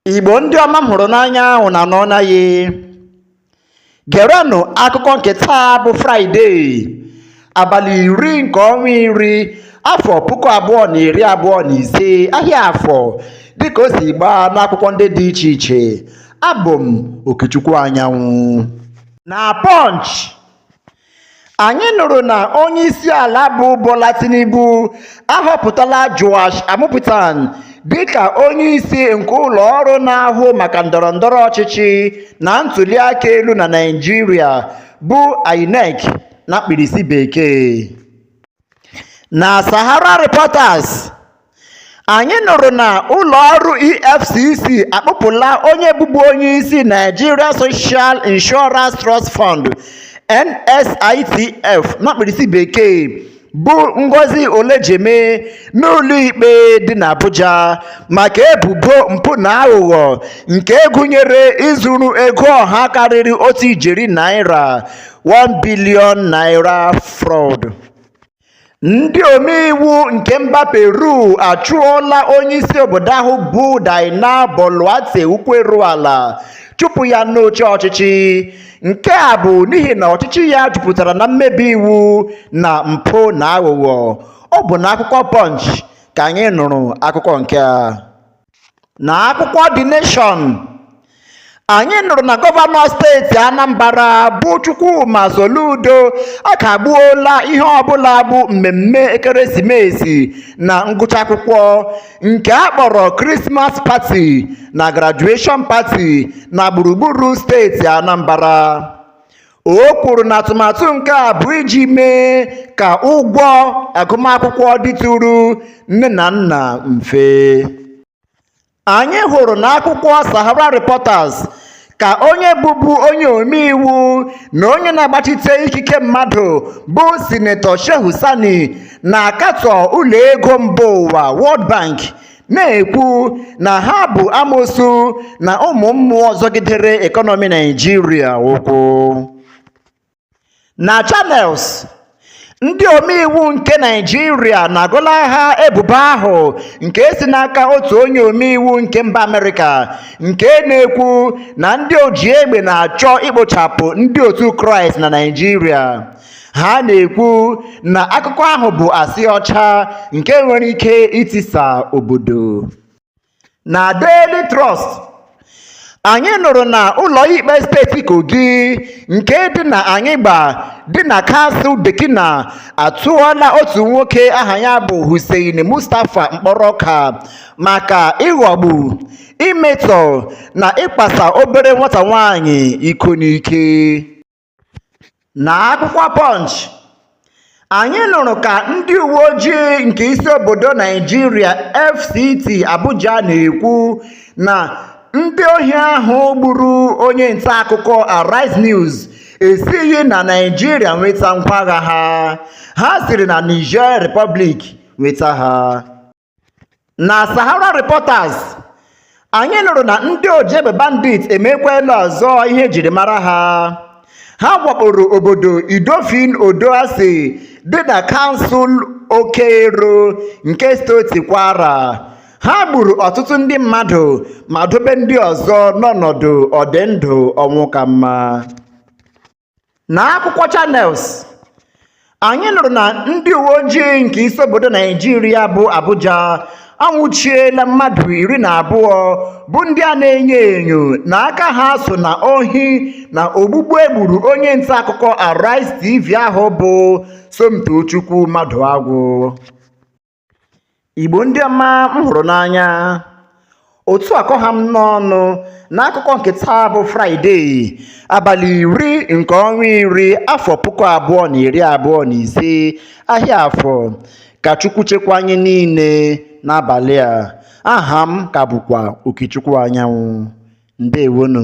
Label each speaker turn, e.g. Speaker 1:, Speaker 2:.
Speaker 1: Igbo ndị ọma m hụrụ n'anya ahụ na nọ naghị gerenụ akụkọ nke taa bụ fraịde abalị iri nke ọnwa iri afọ puku abụọ na iri abụọ na ise ahịa afọ dịka o si gbaa n'akwụkwọ ndị dị iche iche abụ m okechukwu anyanwụ na Punch anyị nụrụ na onye isi ala bụ Bola Tinubu ahọpụtala Joash Amupitan dịka onye isi nke ụlọ ọrụ na-ahụ maka ndọrọ ndọrọ ọchịchị na ntụliaka elu na Naịjirịa bụ INEC na mkpirisi bekee na sahara reporters anyị nụrụ na ụlọ ọrụ efcc akpụpụla onye bụbu onye isi nigeria social insurance trust fund nsitf na mkpirisi bekee bụ ngozi olejeme n'ụlọikpe dị n'abuja maka ebubo mpụ na aghụghọ nke gụnyere izuru ego ọha karịrị otu ijeri naira 1 billion naira fraud. Ndị omeiwu nke mba Peru achụọla onyeisi obodo ahụ bụ Dina Boluarte ụkwụ eru ala chụpụ ya n'oche ọchịchị nke a bụ n'ihi na ọchịchị ya jupụtara na mmebi iwu na mpụ na aghụghọ ọ bụ na akwụkwọ Punch ka anyị nụrụ akụkọ nke a na akwụkwọ The Nation anyị nụrụ na gọvanọ steeti anambra bụ chukwuma soludo akagbuola ihe ọbụla bụ mmemme ekeresimesi na ngụcha akwụkwọ nke a kpọrọ Christmas party na graduation party na gburugburu steeti anambra O kwuru na atụmatụ nke a bụ iji mee ka ụgwọ agụmakwụkwọ dịtụrụ nne na nna mfe. Anyị hụrụ na akwụkwọ Sahara Reporters ka onye bụbu onye omeiwu na onye na-agbachite ikike mmadụ bụ Sinetọ Shehu Sani na-akatọ ụlọ ego mba ụwa World Bank na-ekwu na ha bụ amosu na ụmụ mmụọ zọgidere ekọnọmi Naijiria ụkwụ na Channels ndị omeiwu nke naijiria na-agọlaha ebubo ahụ nke si n'aka otu onye omeiwu nke mba amerịka nke na-ekwu na ndị oji egbe na-achọ ikpochapụ ndị otu kraịst na naijiria ha na-ekwu na akụkọ ahụ bụ asị ọcha nke nwere ike itisa obodo na Daily Trust anyị nụrụ na ụlọikpe steeti Kogi nke dị na Anyịgba dị na kansụl Dekina atụọla otu nwoke aha ya bụ Hussein Mustapha mkpọrọ ọka maka ịghọgbu imetọ na ịkpasa obere nwata nwaanyị iko n'ike na akwụkwọ Punch anyị nụrụ ka ndị uwe ojii nke isi obodo Naijiria FCT Abuja na-ekwu na ndị ohi ahụ gburu onye nta akụkọ Arise News esighi na Naijiria nweta ngwa agha ha ha siri na Niger Republic nweta ha na sahara reporters anyị nụrụ na ndị oji egbe bandit emekwela ọzọ ihe e jiri mara ha ha wakporo obodo idofin odo-ase dị na kansụl oke-ero nke steeti kwara ha gburu ọtụtụ ndị mmadụ ma dobe ndị ọzọ n'ọnọdụ ọdịndụ ọnwụ ka mma na akwụkwọ Channels anyị nụrụ na ndị uwe ojii nke isi obodo naijiria bụ abuja anwụchiela mmadụ iri na abụọ bụ ndị a na-enyo enyo na aka ha so na ohi na ogbugbu e gburu onye nta akụkọ Arise TV ahụ bụ Somtochukwu Maduagwu Igbo ndị ọma m hụrụ n'anya otu a ka ọ ha m n'ọnụ n'akụkọ nke taa bụ fraịde abalị iri nke ọnwa iri afọ puku abụọ na iri abụọ na ise ahịa afọ ka chukwu chekwa anyị niile n'abalị a aha m ka bụkwa okechukwu anyanwụ ndewonu